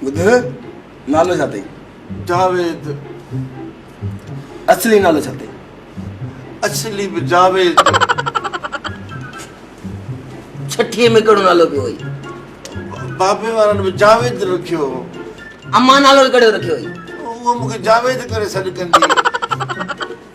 ٻڌ نالو ڇا تئي؟ جاويد اصلي نالو ڇا تئي؟ اصلي به جاويد ڇٺي ۾ ڪهڙو نالو پيو هئي؟ بابي وارن به جاويد رکيو هو امان نالو ڪهڙو رکيو هئي؟ اهو مونکي جاويد ڪري سڏ ڪندي هئي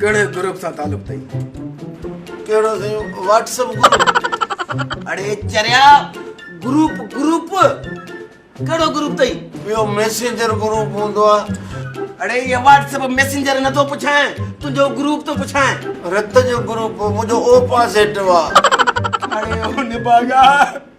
ڪهڙي گروپ سان تعلق اٿئي. ڪهڙو سائين واٽس اپ گروپ. اڙي چريا گروپ گروپ ڪهڙو گروپ اٿئي. اهو ميسينجر گروپ هوندو آهي. اڙي اهي واٽس اپ ميسينجر نه ٿو پڇانء تنهنجو گروپ ٿو پڇانء. رت جو گروپ منهنجو او پازيٽو آهي. اڙي او نڀاڳا.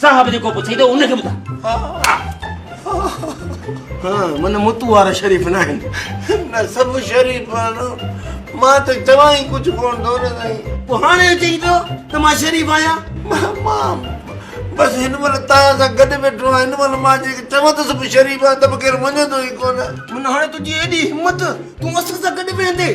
صاحب جيڪو پڇئي ٿو ان کي ٻڌاء. ها من متون وارا شريف ناهن. نه سڀ شريف آهن. مان ته چوان ئي ڪجهه ڪونه ٿو نه سائين. پوء هاڻي اچي ئي پيو ته مان شريف آهيان. مان بس هن مهل توهان سان گڏ ويٺو آهيان. هن مهل مان جي چوان ته سڀ شريف آهن ته به ڪير مڃيندو ئي ڪونه. من هاڻي تنهنجي ايڏي همت تون اسان سان گڏ ويهندين.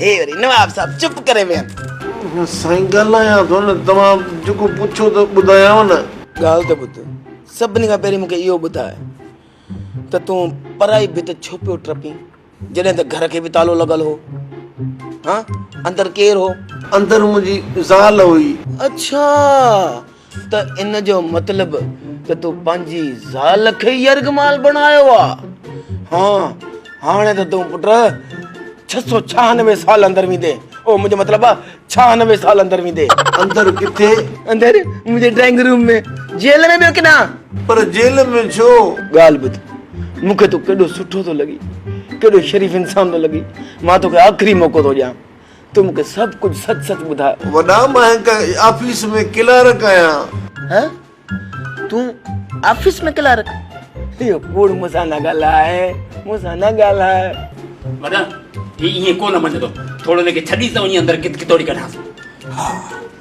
هي وري نواب صاحب چپ ڪري ويهن. سائين ڳالهايان ٿو نه. توهان جيڪو پڇو ته ٻڌايانو نه. ڳالهه ته ٻڌ. سڀني کان پهرين مون کي اهو ٻڌاء ته تون پرائي ڀت ڇو پيو ٽپين جڏهن ته گهر کي به تالو لڳل هو. هان اندر ڪير هو؟ اندر منهنجي زال هئي. اڇا! ته ان جو مطلب ته تون پنهنجي زال کي ئي يرغمال بڻايو آ. ها هاڻي ته تون پٽ ڇهه سؤ ڇهانوي سال اندر ويندي او منهنجو مطلب آ ڇهانوي سال اندر ويندي. اندر ڪٿي؟ اندر منهنجي ڊرائنگ روم ۾ جيل ۾ ٻيو ڪيڏانهن؟ پر جيل ۾ ڇو؟ ڳالهه ٻڌ مون کي تون ڪيڏو سٺو ٿو لڳين ڪيڏو شريف انسان ٿو لڳين مان توکي آخري موقعو ٿو ڏيان. تو مون کي سڀ ڪجهه سچ سچ ٻڌاء. وڏا مان هڪ آفيس ۾ ڪلارڪ آهيان. ها تون آفيس ۾ ڪلارڪ. اهو ڪوڙ مون سان نه ڳالهاء مون سان نه ڳالهاء. وڏا هي ائين ڪو نه مڃندو ٿوڙو هن کي ڇڏيس ته وڃي اندر ڪت ڪتوڙي ڪڍانس. ها